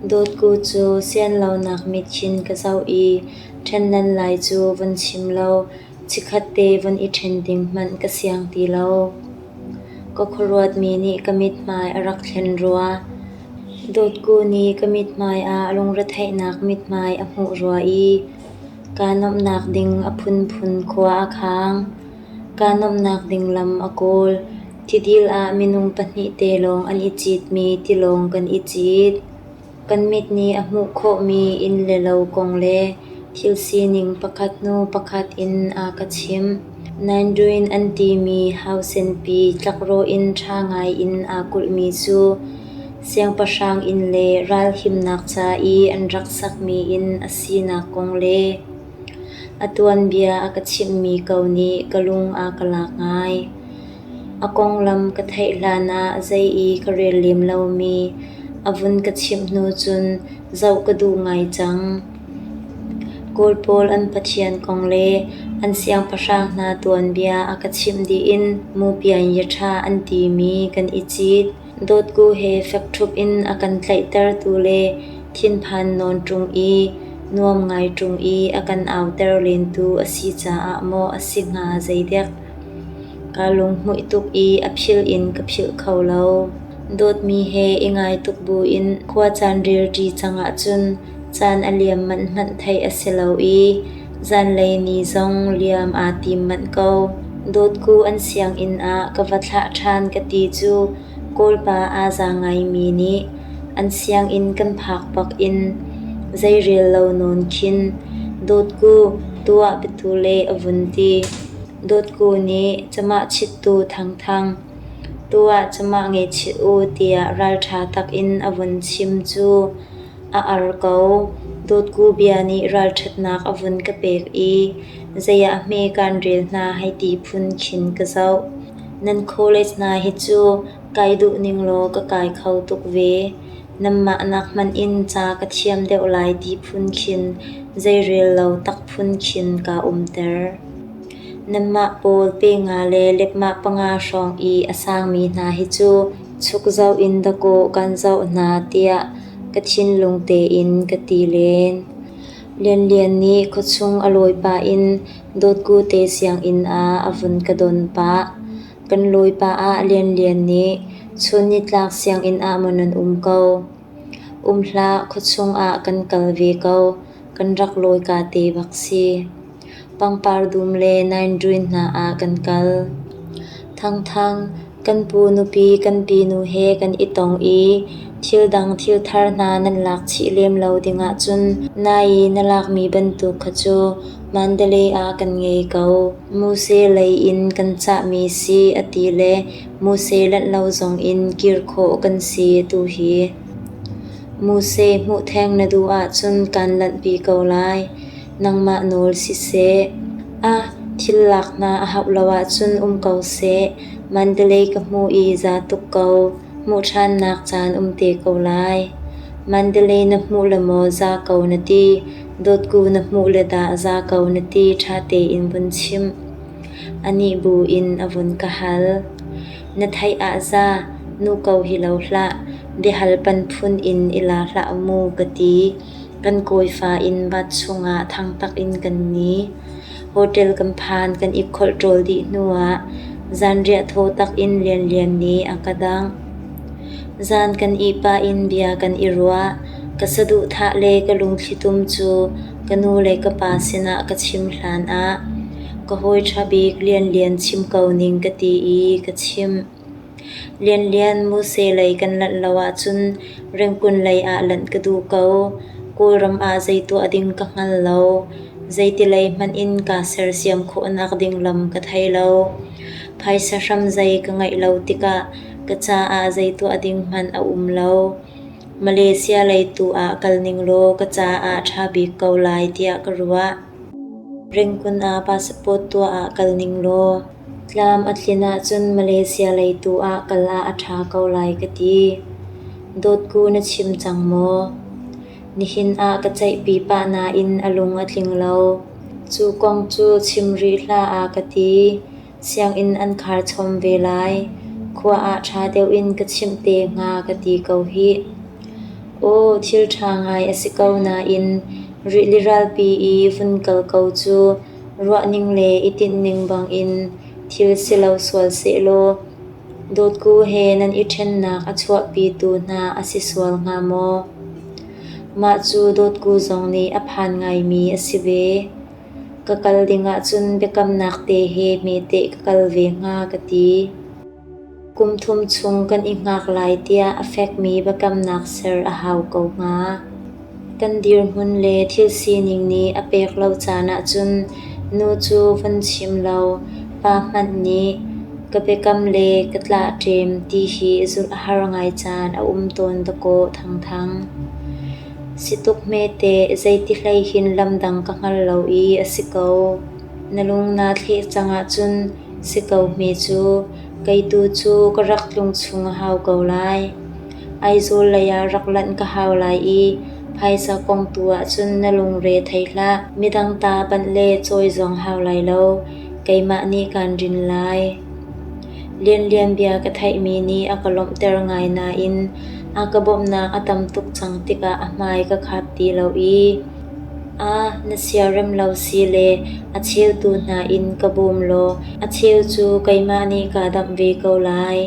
Dawtku cu sian lonak mitchin ka zoh i ṭhennan lai cu vun chim law Chikkhat te von i ṭhen ding hmanh ka siang ti lo. Ka khuaruatmi nih ka mithmai a rak thlen rua. Dawtku nih ka mithmai ah lungretheihnak mithmai a hmuh rua i kaa nuamhnak ding a phunphun khua a khaang. Kaa nuamhnak ding lam a kawl. Tidil ah minung pahnih te lawng an i citmi tilawng kan i cit. Kan mit nih a hmuh khawhmi inn le lo kong le thil sining pakhat hnu pakhat in a ka chimh. Nanduin an timi hausenpi tlakrawh in ṭha ngaiin aa kulhmi cu siangpahrang inn le ralhimnak ca i an rak sakmi inn a sinak kong le a tuanbia a ka chimhmi ko nih ka lung a ka lak ngai. A konglam ka theih hlanah zei i ka rel lem lomi a vun ka chimh hnu cun zoh ka duh ngai cang. Kawl pawl an pathian kong le an siangpahrang hna tuanbia a ka chimh dih in Mupianyi ṭha an timi kan i cit. Dawtku he fek ṭhup in a kan tlaihtertu le thinphan nawn ṭung i nuam ngai ṭung i a kan auter lentu a si caah maw a si hnga zeidek. Kaa lunghmuih tuk i a philh in ka philh kho lo. Dawtmi he i ngai tuk buin khua caan rilṭi cang ahcun caan a liam manh hmanh theih a si lo i zanlei ni zong liam aa tim manh ko. Dawtku an sianginn ah ka va thlah ṭhan ka ti cu Kawlpa aa za ngaimi nih an sianginn kan phak bak in zei rel lo nawn khin, Dawtku, tuah petu le a vun ti. Dawtku nih camah chittu thangthang, tu ah camah ngeichih u tiah ralṭha takin a vun chim cu a ar ko. Dawtku bia nih ralṭhatnak a vun ka pek i zei ah hme kaan rel hna hei ti phun khin ka zoh. Nan college hna hi cu kai duh ning law ka kai kho tuk ve. Nanmah nak hmanh in ca ka thiam deuh lai ti phun khin zeirel lo tak phun khin kaa umter. Nanmah pawl pe nga le lepmah panga hrawng i a sangmi hna hi cu chuk zoh in dakaw kan zoh hna tiah ka thinlung tein ka ti len. Lianlian nih khuachung a lawi pah in dawtku te sianginn ah a vun ka don pah. Kan lawipa ah Lianlian nih chun nitlak sianginn ah maw nan um ko? Um hlah, khuachung ah kan kal ve ko, kan rak lawika te bak si. Pangpar dum le naindruin hna ah kan kal. Thangthang, kan pu nupi kan pi nu he kan i tong i thil dang thil thar hna nan lak chih lem lo dingah cun nai i na lakmi bantuk kha cu Mandalay ah kan ngei ko. Muse lei in kan cahmi si a ti le muse lanh lo zong in kir khawh kan si tu hi. Muse hmuh theng na duh ahcun kan lanhpi ko lai. Nangmah nawl siseh. Ah, thil lak hna a hauh lo ahcun um ko seh. Mandalay ka hmuh i za tuk ko. Hmuh ṭhannak caan um te ko lai. Mandalay na hmuh le maw za ko na ti. Dawtku na hmuh le dah za ko na ti ṭha tein vun chim. A nih bu in a vun ka hal. Na theih ah za, nu ko hi lo hlah, biahal pan phun in i la hlah mu ka ti. Kan kawifa in va chungah thangtak in kan ni. hotel kan phan kan i kholh ṭawl dih hnuah zanriah thaw tak in lianlian nih a ka dangh. Zan kan ihpah in bia kan i ruah. Ka saduhthah le ka lungthlitum cu ka nu le ka pa sinah ka chim hlan ah ka hawi ṭha bik Lianlian chim ko ning ka ti i ka chimh. Lianlian Muse lei kan lanh lo ahcun Rengkun lei ah lanh ka duh ko. Kawlram ah zei tuah ding ka hngal lo. Zeitilei hmanh in kaa sersiam khawh nak ding lam ka thei lo. Phaisa hram zei ka ngeih lo tikah ka caah zei tuah ding hmanh a um lo. Malaysia lei tu ah kal ning law ka caah ṭha bik ko lai tiah ka ruah. Rengkun ah passport tuah ah kal ning law Tlam a tlin ahcun Malaysia lei tu ah kal ah a ṭha ko lai ka ti. Dawtku na chim cang maw? Nihin ah ka ceihpi pah nain a lung a tling lo. Cu kong cu chim rih hlah a ka ti. Sianginn an khar chawm ve lai. Khua ah ṭha deuh in ka chimh te hnga ka ti ko hih. Aw, thil ṭha ngai a si ko nain rili ralpi i vun kal ko cu. Ruahning le i tinhning bangin thil si lo sual sehlaw dawtku he nan i ṭhennak a chuahpitu hna a si sual hnga maw? Mah cu dawtku zong nih a phan ngaimi a si ve. Ka kal dingah cun biakamnak te he hmete ka kal ve hnga ka ti. Kum thum chung kan i hngak lai tiah a fekmi biakamnak ser a hau ko hnga. Kan dirhmun le thil sining nih a pek lo caan ahcun nu cu von chim law pa hmanh nih ka biakam le ka tlahṭem ti hi zulh a har ngai caan a um tawn dakaw thangthang. Si tuk hmete zeiti hlei hin lamdang ka hngal lo i a si ko. Na lung naa thleh cang ahcun Si ko hme cu, kei tu cu ka rak tlung chung a hau ko lai. Aizawl leiah rak lanh ka hau lai i phaisa kong tu ahcun na lungre thei hlah. Midang ta panh le cawi zong hau lai lo. Keimah nih kaan rin lai. Lianlian bia ka theihmi nih a ka lawmhter ngai nain a ka bawmhnak a tam tuk cang tikah a hmai ka khat ti lo i Aa na siarem lo si le a cheutu hna in ka bawm law a cheu cu keimah nih kaa damh ve ko lai.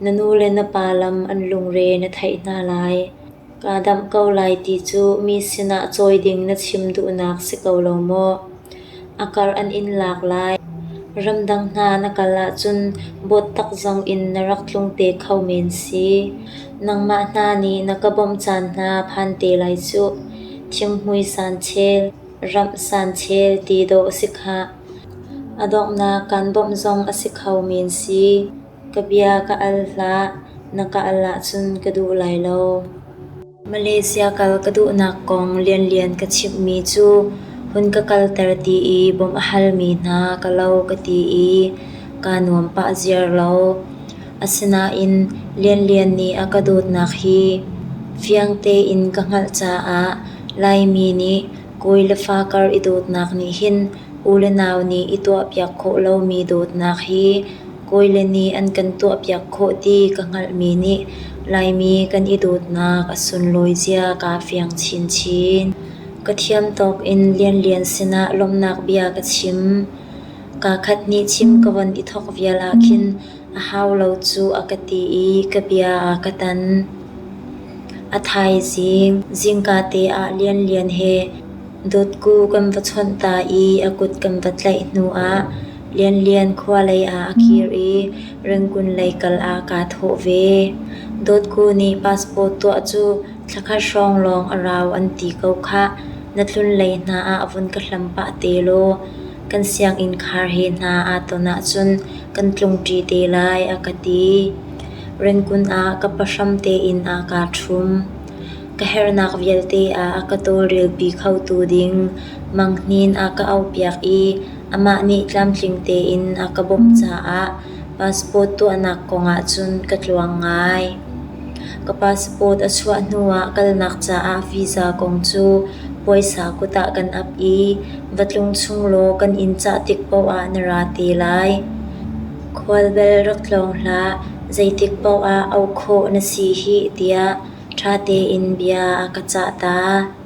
Na nu le na pa lam an lungre na theih hna lai. Kaa damh ko lai ti cu mi sinah cawi ding na chim duhnak si ko lo maw? A kar an in lak lai. Ramdang hna na kal ahcun bawttak zong in na rak tlung te kho men si. Nangmah hna nih na ka bawmh caan hna phan te lai cuh. Thingmui sanchel, ramh sanchel ti dawh a si khah. A donghnak kan bawmh zong a si kho men si. Ka bia ka al hlah, na ka al ahcun ka duh lai lo. Malaysia kal ka duhnak kong lianlian ka chimhmi cu hun ka kalter ti i bawmh a halmi hna ka lo ka ti i kaa nuam pah ziar lo. Asinain lianlian nih a ka dawtnak hi fiang tein ka hngalh caah Laimi nih kawi le fa kar i dawtnak nih hin u le nau nih i tuahpiak khawh lomi dawtnak hi Kawi le nih an kan tuahpiak khawh ti ka hngalhmi nih Laimi kan i dawtnak a sunlawi zia kaa fiang chinchin. Ka thiam tawk in Lianlian sinah lawmhnak bia ka chim. Kaa khat nih chim ka von i thawk vial ahkhin a hau lo cu a ka ti i ka bia aa ka tan. A thaizing zingka te ah Lianlian he dawtku kan va chawnh ta i a kut kan va tlaih hnuah Lianlian khua lei ah a kir i Rengkun lei kal ah kaa thawh ve. Dawtku nih passport tuah cu thla khat hrawng lawng a rau an ti ko khah. Na tlunlei hna ah vun ka hlam pah te law kan sianginn khar he hna aa ton ahcun kan tlungṭi te lai a ka ti. Rengkun ah ka pahram tein aa kaa ṭhum. Ka herhnak vialte ah a ka tawlrelpi khotu ding manghnin a ka auhpiak i Amah nih tlamtling tein a ka bawmh caah passport tuahnak kongah cun ka tluang ngai. Ka passport a chuah hnuah kalnak caah visa kong cu puaisa kut ah kan ap i va tlung chung law kan in cah tik paohah na ra te lai. Khualbel rak tlawng hlah, zeitik paohah auh khawh na si hih tiah ṭha tein bia a ka cah ta.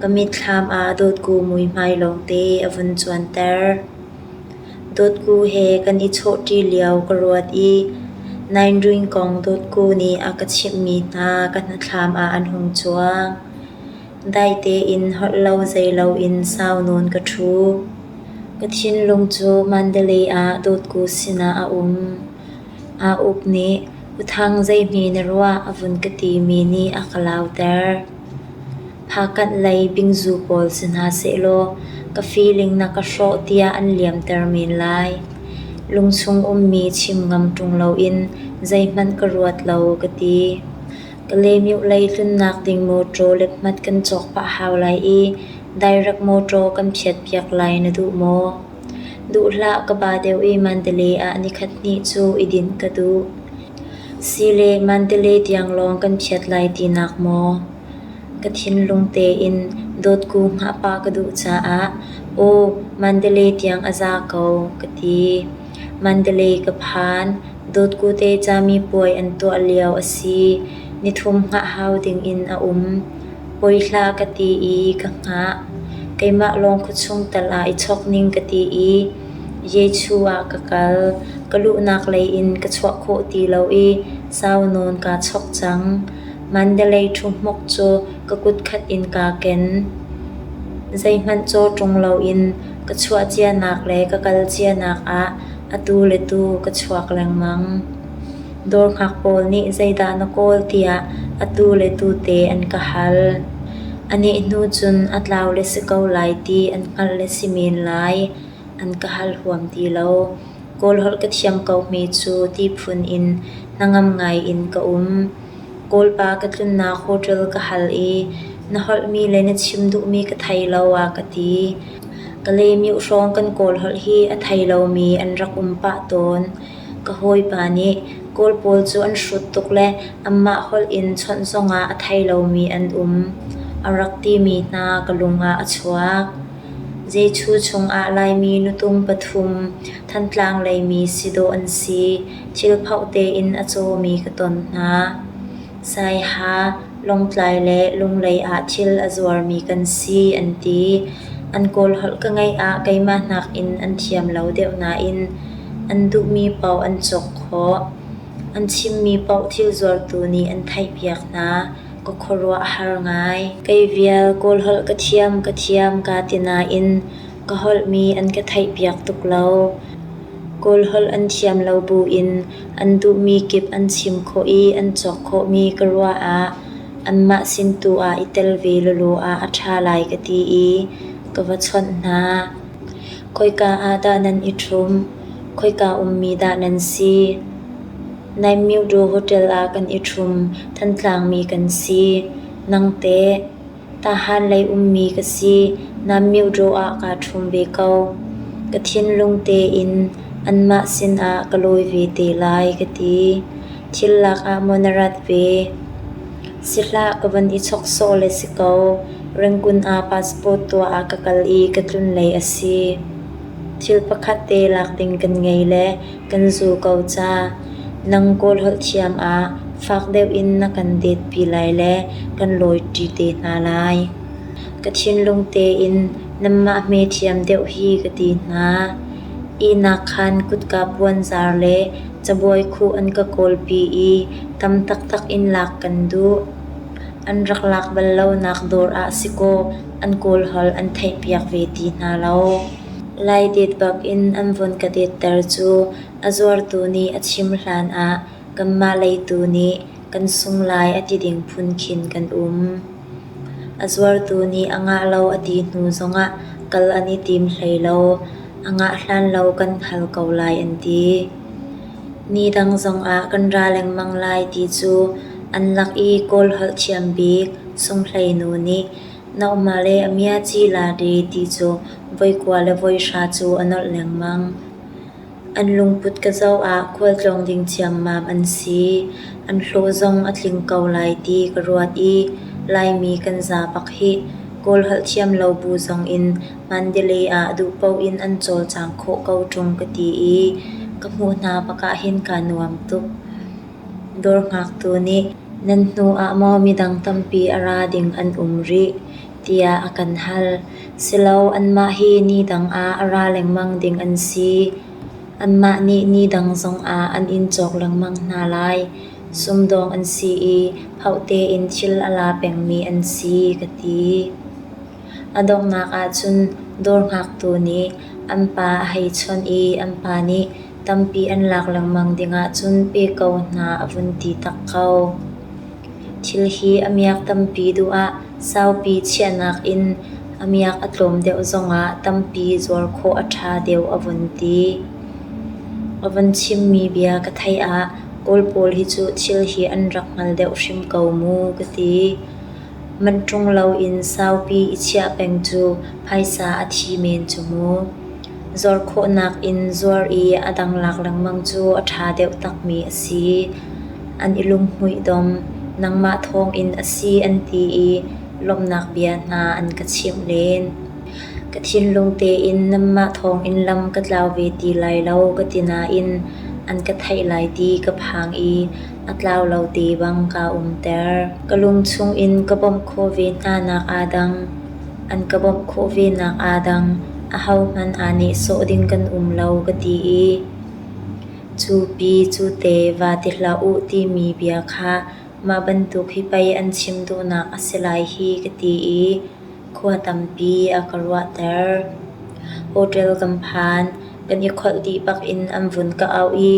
Ka mitthlam ah dawtku muihmai lawngte a vun cuanter. Dawtku he kan i chawhṭi lio ka ruat i nainruing kong dawtku nih a ka chimhmi hna ka hnatthlam ah an hung cuang. Dai tein holh lo zei loin sau nawn ka ṭhu. Ka thinlung cu Mandalay ah dawtku sinah a um. Aa uk nih, "Uthang zeihme na ruah?" a vun ka timi nih a ka lauter. Phakanh lei bingzu pawl si hna sehlaw ka feeling na ka hrawh tiah an liamter men lai. Lungchung ummi chim ngam ṭung loin zeihmanh ka ruat lo ka ti. Ka lemyu lei tlunnak ding mawṭaw lephmat kan cawk pah hau lai i direct mawṭaw kan phiatpiak lai na duh maw? Duh hlah ka ba deuh i Mandalay ah nikhat hnih cu i dinh ka duh. Si le Mandalay tiang lawng kan phiat lai tinak maw? Ka thinlung tein dawtku hngahpah ka duh caah "Aw, Mandalay tiang a za ko" ka ti. Mandalay ka phan. Dawtku te cami puai an tuah lio a si. Nithum hngah hau dingin a um. Poi hlah ka ti i ka hngah. Keimah lawng khuachung tal ah i chawk ning ka ti i Jesuh ah ka kal. Ka luhnak lei in ka chuah khawh ti lo i sau nawn kaa chawk cang. Mandalay ṭhuhmuk cu ka kutkhat in kaa ken. Zeihmanh caw ṭung loin ka chuah cianak le ka kal cianak ah atu le tu ka chuak lengmang. Dawrngak pawl nih zeidah na kawl tiah atu le tute an ka hal. A nih hnu cun a tlau le si ko lai ti an hngalh le si men lai an ka hal huam ti lo. Kawl holh ka thiam ko hme cu ti phun in hnangam ngai in ka um. Kawlpa ka tlunnak hotel ka hal i na holhmi le na chim duhmi ka thei lo a ka ti. Ka leemioh hrawng kan kawl holh hi a thei lomi an rak um pah tawn. Ka hawipa nih Kawl pawl cu an hrut tuk le anmah holh in chawnh zongah a thei lomi an um, a rak timi hna ka lungah a chuak. Zeichu chungah Laimi nutung pathum, Thantlang leimi si dawh an si, thil phauh tein a cawmi ka ton hna. Saiha, Lawngtlai le Lunglei ah thil a zuarmi kan si an ti. An kawlholh ka ngeih ah keimah nakin an thiam lo deuh nain an duhmi paoh an cawk khawh. An chimmi paoh thil zuartu nih an theihpiak hna. Ka khuaruah a har ngai. Kei vial kawlholh ka thiam ka thiam kaa ti nain ka holhmi an ka theihpiak tuk lo. Kawlholh an thiam lo buin An duhmi kip an chim khawh i an cawk khawhmi ka ruah ah anmah sin tu ah i tel ve lawlaw ah a ṭha lai ka ti i ka va chawnh hna. Khoika ah dah nan i ṭhum? Khoika ummi dah nan si? Naimyo Daw Hotel ah kan i ṭhum. Thantlang mi kan si. Nangteh? Tahan lei ummi ka si, na myodraw ah kaa ṭhum ve ko. Ka thinlung tein anmah sinah ka lawi ve te lai ka ti. Thil lakah maw na rat ve? Si hlah, ka van i chawk sawh le si ko. Rangoon ah passport tuah ah ka kal i ka tlunlei a si. Thil pakhat te lak ding kan ngei le kan zuu ko ca. Nang kawl holh thiam ah fak deuh in na kan detpi lai le kan lawiṭi te hna lai. Ka thinlung tein nanmah hme thiam deuh hi ka ti hna. Ihnak khan kutka puanzar le cabuai khuh an ka kawlpi i tam taktak in lak kan duh. An rak lak bal lonak dawr ah si kaw an kawl holh an theihpiak ve ti hna lo. Lai det bak in an vun ka detter cu a zuartu nih a chim hlan ah kanmah lei tu nih kan sung lai a ti ding phun khin kan um. A zuartu nih a ngah lo a ti hnu zongah kal an i tim hlei lo. A ngah hlan lo kan hal ko lai an ti. Ni dang zongah kan ra lengmang lai ti cu an lak i kawl holh thiam bik Sung Hlei nu nih Na um ah le a mia ci la de ti cu voi kua le voi hra cu a nolh lengmang. An lungput ka zoh ah khualtlawng ding ciammam an si. An hlawh zong a tling ko lai ti ka ruat i Laimi kan za bak hi Kawl holh thiam lo bu zong in Mandalay ah duh paoh in an cawlcang khawh ko ṭung ka ti i ka hmuh hna bak ah hin kaa nuam tuk. Dawr ngaktu nih nan hnuah maw midang tampi a ra ding an um rih tiah a kan hal. Silo anmah hi ni dang ah a ra lengmang ding an si. Anmah nih ni dang zongah an in cawk lengmang hna lai. Sumdawng an si i phauh tein thil a la pengmi an si ka ti. A donghnak ahcun dawr ngaktu nih an pa a hei chawnh i an pa nih Tampi an lak lengmang ding ahcun pe ko hna a vun ti tak ko. Thil hi a miak tampi duh ah saupi chiahnak in a miak a tlawm deuh zongah tampi zuar khawh a ṭha deuh a vun ti. A vun chimmi bia ka theih ah Kawl pawl hi cu thil hi an rak hngal deuh hrim ko mu ka ti. Manṭung loin saupi i chiah peng cu phaisa a thi men cu mu. Zuar khawhnak in zuar i a dang lak lengmang cu a ṭha deuh takmi a si. An i lunghmuih dom, nangmah thawngin a si an ti i lawmhnak bia hna an ka chimh len. Ka thinlung tein nanmah thawngin lam ka tlau ve ti lai lo ka ti nain an ka theih lai ti ka phang i A tlau lo ti bang kaa umter. Ka lung chungin ka bawmh khawh ve hna nak aa dang. An ka bawmh khawh ve nak aa dang. Ahohmanh aa nehsawh ding kan um lo ka ti i cu pi cu te va ti hlah u timi bia kha mah bantuk hi pei an chim duhnak a si lai hi ka ti i Khua tampi a ka ruahter. Hotel kan phan. Kan i kholh dih bak in an vun ka auh i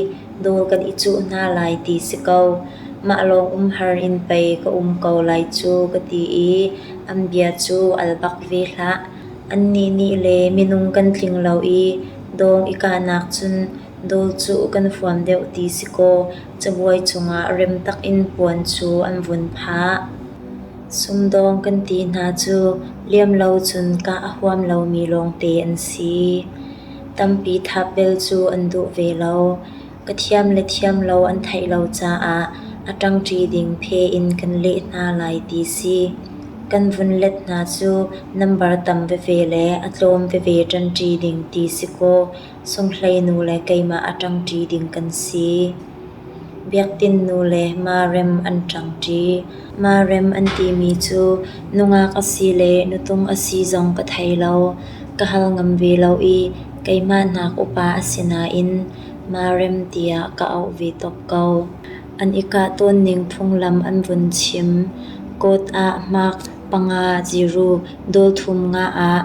dawr kan i cuh hna lai ti si ko. Mah lawng umhar in pei ka um ko lai cu ka ti i an bia cu al bak ve hlah. Annih nih le minung kan tling lo i dawr i kahnak cun dawr cuh kan huam deuh ti si kaw cabuai cungah rem tak in puan cu an vun phah. Sumdawng kan ti hna cu liam lo cun kah a huam lomi lawngte an si. Tampi thap bel cu an duh ve lo. Ka thiam le thiam lo an theih lo caah a ṭangṭi ding phe in kan leh hna lai ti si. Kan vun let hna cu nambar tam veve le a tlawm veve ṭanṭi ding ti si kaw Sunghlei nu le keimah a ṭangṭi ding kan si. Biakinn nu le marem an ṭangṭi. Marem an timi cu nungak a si le nutung a si zong ka thei lo. Ka hal ngam ve lo i keimah nak upa a si nain marem tiah ka auh ve tuk ko. An i kah tawn ning phunglam an vun chim. Kawt ah hmak panga ciru dawr thum nga ah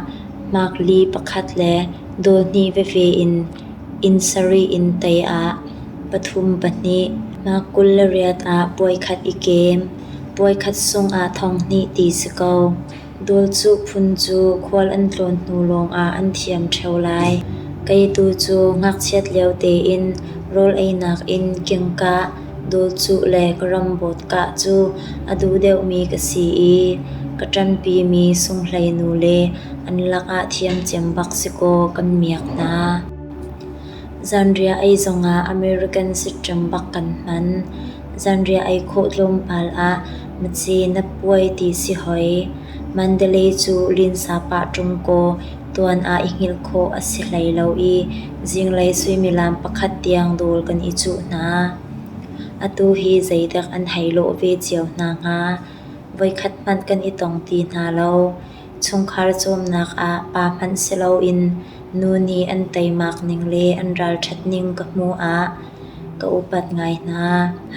makli pakhat le dawr hnih veve in inn sarih in tei ah pathum pahnih mah kul le riat ah puaikhat i kem puaikhat sung ah thong hnih ti si ko dawr cu phun cu khual an tlawn hnu lawng ah an thiam ṭheo lai kei tu cu ngakchiat lio tein rawl einak in kingkah Dawtcuh le ka ram bawt kah cu a duh deuhmi ka si i ka ṭanpimi sunghleinu le an lakah thiamciam bak si kaw kan miak hna. Zanriah ei zongah American siṭem bak kan hman. Zanriah ei khawh tlawmpal ah na ci na puai ti si hoi. Mandalay cu linsa pah ṭung kaw tuan ah i hngilh khawh a si hlei lo i zinglei suimilam pakhat tiang dawr kan i cuh hna. Atu hi zeidak an hei lawh ve cio hna hnga? Voikhat hmanh kan i tong ti hna lo. Chungkhar cawmnak ah pa hmanh si loin nu nih an teimak ning le an ralṭhat ning ka hmuh ah ka upat ngai hna.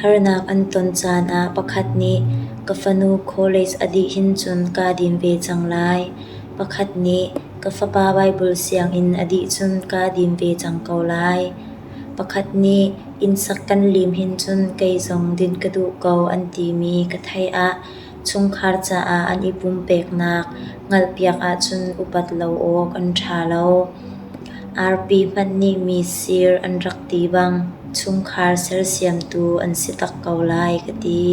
Harnak an ton caan ah pakhat nih ka fanu college a dih hin cun kaa dim ve cang lai. Pakhat nih ka fapa Baibal sianginn a dih cun kaa dim ve cang ko lai. Pakhat nih innsak kan lim hin cun kei zong din ka duh ko an timi ka theih ah chungkhar caah an i pumpeknak hngalhpiak ahcun upat lo awk an ṭha lo. Arpi hmanh nih mi sir an rak ti bang chungkhar sersiamtu an si tak ko lai ka ti.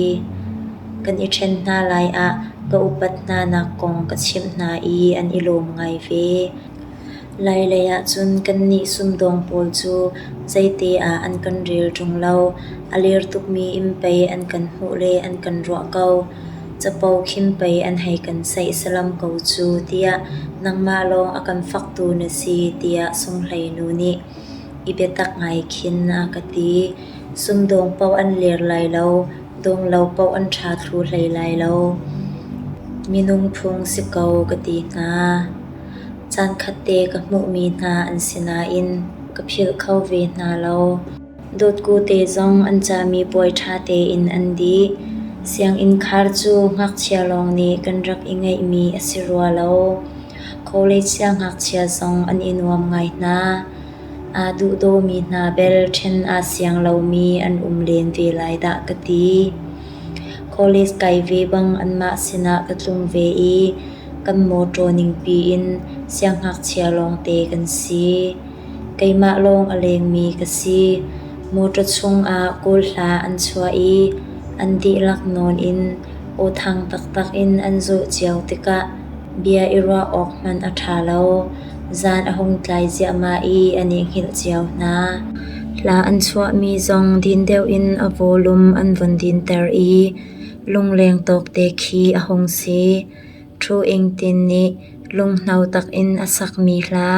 Kan i ṭhen hna lai ah ka upat hna nak kong ka chimh hna i an i lawm ngai ve. Lailei ahcun kannih sumdawng pawl cu zeite ah an kan rel ṭung lo. A lir tukmi inn pei an kan hmuh le an kan ruah ko. capo khim pei an hei kan saih salam ko cu tiah nangmah lawng a kan faktu na si tiah sunghleinu nih i biatak ngai khin a ka ti. Sumdawng paoh an lir lai lo, dawng lo paoh an ṭha thlu hlei lai lo. Minung phung si ko ka ti hna. Caan khat te ka hmuhmi hna an si nain ka philh kho ve hna lo. Dawtkute zong an cami puai ṭha tein an dih. Sianginn khar cu ngakchia lawng nih kan rak i ngeihmi a si rua lo. College siangngakchia zong an i nuam ngai hna. Aa duhdawmi hna bel ṭhen aa siang lomi an um len ve lai dah ka ti. College kai ve bang anmah sinah ka tlung ve i kan mawṭaw ningpi in siangngakchia lawngte kan si. Keimah lawng a lengmi ka si. Motor chungah kawl hla an chuah i an dihlak nawn in awthang taktak in an zawh cio tikah bia i ruah awk hmanh a ṭha lo. Zan a hung tlai ziahmah i an i hngilh cio hna. Hla an chuahmi zong din deuh in a volume an vun dinter i lungleng tawkte khi a hung si. Thu Ing Tin nih lunghno tak in a sakmi hla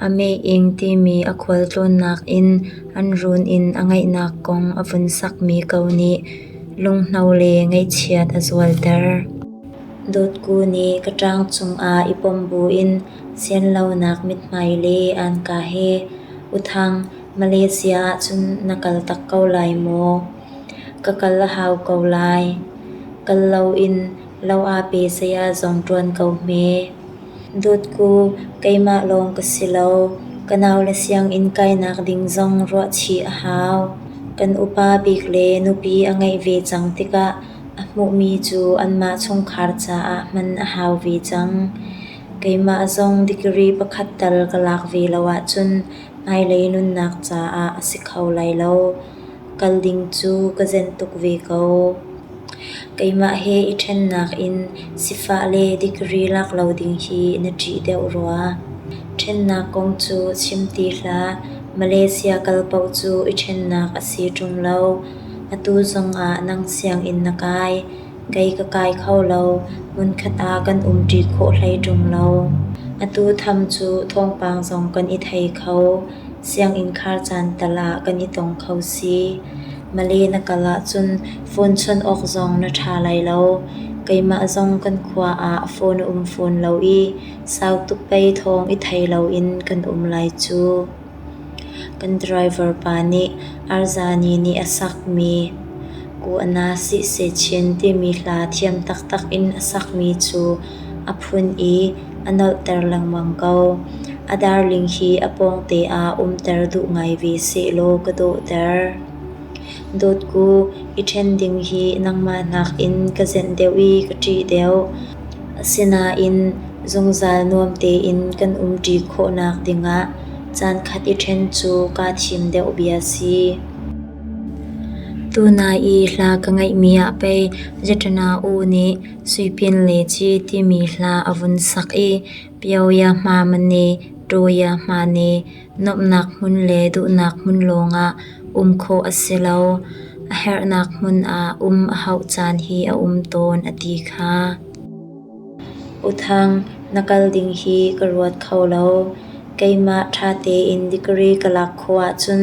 A meh-ing timi a khualtlawnnak in an run in a ngeihnak kong a vun sakmi ko nih lunghno le ngaihchiat a zualter. Dawtku nih ka ṭang cungah i pom buin sianlonak mithmai le anka he, “Uthang, Malaysia ahcun na kal tak ko lai maw? Ka kal a hau ko lai. Kal loin Lo ah pe saya zong ṭuan ko hme. Dawtku, keimah lawng ka si lo. Ka nau le sianginn kainak ding zong ruah chih a hau. Kan upa bik le nupi a ngeih ve cang tikah a hmuhmi cu anmah chungkhar caah hman a hau ve cang. Keimah zong degree pakhat tal ka lak ve lo ahcun hmailei nunnak caah a si kho lai lo. Kal ding cu ka zen tuk ve ko. Keimah he i ṭhennak in sifah le degree lak lo ding hi na ṭih deuh rua. Ṭhennak kong cu chim ti hlah, Malaysia kal paoh cu i ṭhennak a si ṭung lo. Atu zongah nang sianginn na kai. Kei ka kai kho lo, hmunkhat ah kan umṭi khawh hlei ṭung lo. Atu tham cu thawngpang zong kan i thei kho. Sianginn khar caan tal ah kan i tong kho si. Male na kal ahcun phone chawnh awk zong na ṭha lai lo. Keimah zong kan khua ah phone a um fawn lo i sau tuk pei thawng i thei loin kan um lai cu. Kan driver pa nih Arzani nih a sakmi kuhna sihseh chin timi hla thiam taktak in a sakmi cu a phun i a nolhter lengmang ko. A darling hi a pawngte ah umter duh ngai ve sehlaw ka dawhter. Dawtku, i ṭhen ding hi nangmah nakin ka zenh deuh i ka ṭih deuh. Asinain zungzal nuam tein kan umṭi khawhnak dingah caankhat i ṭhen cu kaa thim deuh bia si. Tunai i hla ka ngeihmi ah pei Zaṭana u nih Suipin le Ci timi hla a vun sak i Pio Yahma Mane, Ṭaw Yahma Ne, Nuamhnak hmun le duhnak hmun lawngah um khawh a si lo. A herhnak hmun ah um a hauh caan hi a um tawn a ti kha. Uthang, na kal ding hi ka ruat kho lo. Keimah ṭha tein degree ka lak khawh ahcun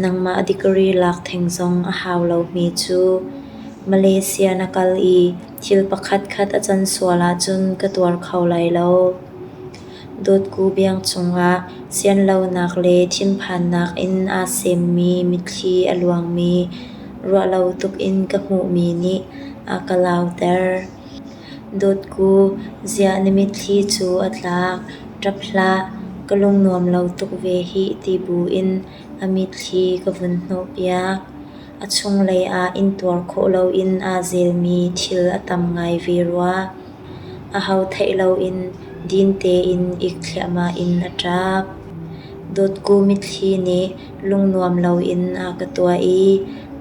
nangmah degree lak theng zong a hau lomi cu. Malaysia na kal i thil pakhatkhat a can sual ahcun ka tuar kho lai lo. Dawtku biang cungah sianlonak le thinphannak in aa semmi mitthli a luangmi ruahlo tukin ka hmuhmi nih a ka lauter. Dawtku, ziah na mitthli cu a tlak, ṭap hlah, ka lungnuam lo tuk ve hih ti buin a mitthli ka vun hnawhpiak. A chunglei ah intuar khawh loin aa zelmi thil a tam ngai ve rua. Aho theih loin din tein ik thliahmah in a ṭap. Dawtku mitthli nih lungnuam loin a ka tuah i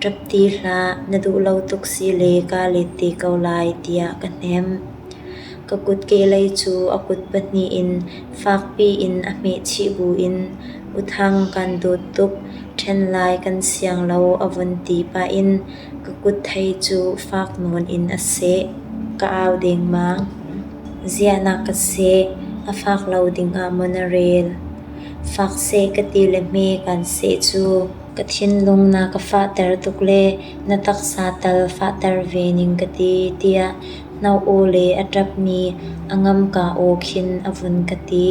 ṭap ti hlah na duh lo tuk si le kaa let te ko lai tiah ka hnemh. Ka kutkelei cu a kut pahnih in fakpi in a hmehchih buin "U Thang kan dawt tuk, ṭhen lai kan siang lo" a vun ti pah in Ka kut thei cu fak nawn in a seh. Ka au dengmang. Ziahnak ka seh. A fak lo dingah maw na rel? Fak seh ka ti le hme kan seh cu ka thinlung na ka fahter tuk le na taksa tal fahter ve ning ka ti tiah na aw le a ṭapmi a ngamka aw khin a vun ka ti.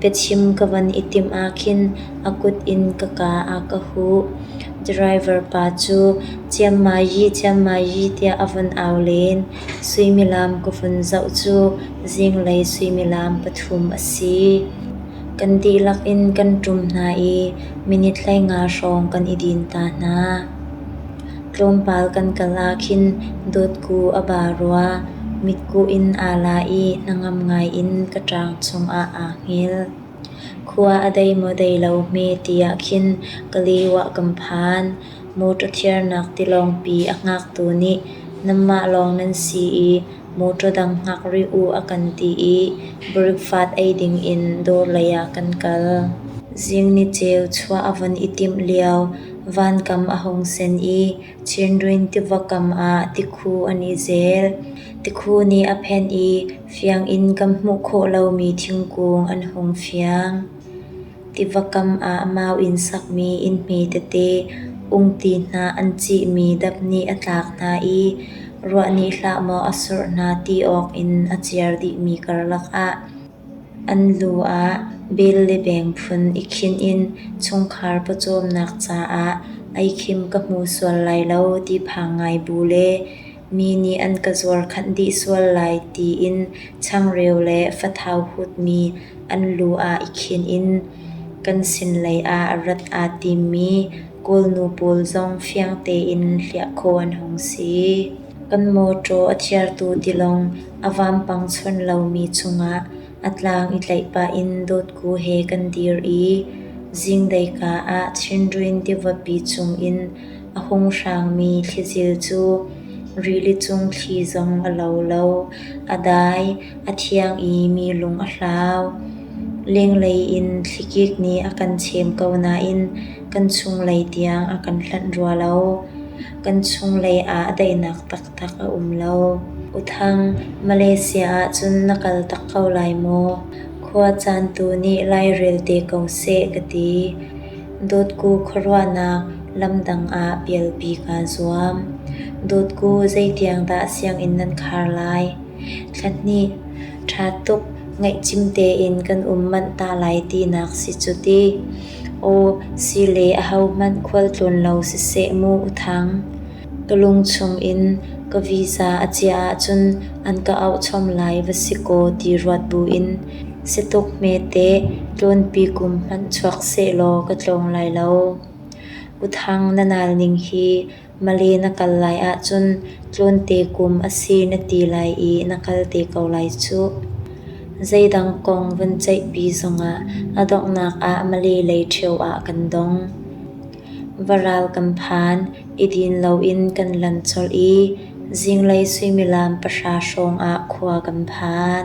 Biachim ka van i timh ahkhin a kut in ka kaa ah ka huh. Driver pa cu ciammayi ciammayi tiah a vun au len. Suimilam ka vun zoh cu zinglei suimilam pathum a si. Kan dihlak in kan ṭum hna i minit hleinga hrawng kan i din ta hna. Tlawmpal kan kal ahkhin dawtku a ba rua, mitkuh in aa la i na ngam ngai in ka ṭang chungah aa hngil. Khua a dei maw dei lo hme ti ahkhin ka lio-ah kan phan. Motor thiarnak tilawngpi a hngaktu nih nanmah lawng nan si i motor dang hngak rih u a kan ti i breakfast ei dingin dawr leiah kan kal. Zing ni ceu chuah a von i timh lio. Vankam a hung sen i Chindwin tiva kam ah tikhu an i zel. Tikhu nih a phenh i fianginn kan hmuh khawh lomi thingkung an hung fiang. Tiva kam ah mau in sakmi innhmi tete, ungti hna an cihmi dap nih a tlak hna i ruah nih hlah maw a surh hna ti awk in a ciar dihmi karlak ah An lu ah bel le beng phun i khinh in chungkhar pawcawmnak caah ei khim ka hmu sual lai lo ti phang ngai bu le mi nih an ka zuarkhanh dih sual lai tiin changreu le fathau hutmi an lu ah i khinh in kan sinlei ah rat aa timmi kawlnu pawl zong fiang tein hliah khawh an hung si. Kan mawṭaw a thiartu tilawng a vampang chuan lomi chungah a tlang i tlaih pah in dawtku he kan dir i zinglei-ka ah chindruin tivapi chungin a hung hrangmi thlizil cu rili cung thli zong a lo lo, a dai, a thiang i mi lung a hlau. Lenglei in thlikik nih a kan chem ko nain kan chunglei tiang a kan hlanh rua lo. Kan chunglei ah daihnak taktak a um lo. U Thang, Malaysia ahcun na kal tak ko lai maw? Khua caan tu nih lairel te ko seh ka ti. Dawtku khuaruahnak lamdang ah pialpi kaa zuam. Dawtku zeitiang dah sianginn nan khar lai? Thla hnih, ṭha tuk, ngaih cim tein kan um manh ta lai tinak si cu ti. Aw si le ahohmanh khualtlawn lo siseh mu u thang. Ka lung chungin ka visa a chiah ahcun an ka auhchom lai va si kaw ti ruat buin situk hmete tlawnpi kum hmanh chuak sehlaw ka tlawng lai lo. U thang na nal ning hi. Mali na kal lai ahcun tlawnte kum a si na ti lai i na kal te ko lai cuh. Zeidang kong vun ceihpi zongah a donghnak ah Mali lei ṭheo ah kan dong. Va ral kan phan, i din loin kan lan colh i zinglei suimilam pahra hrawngah khua kan phan.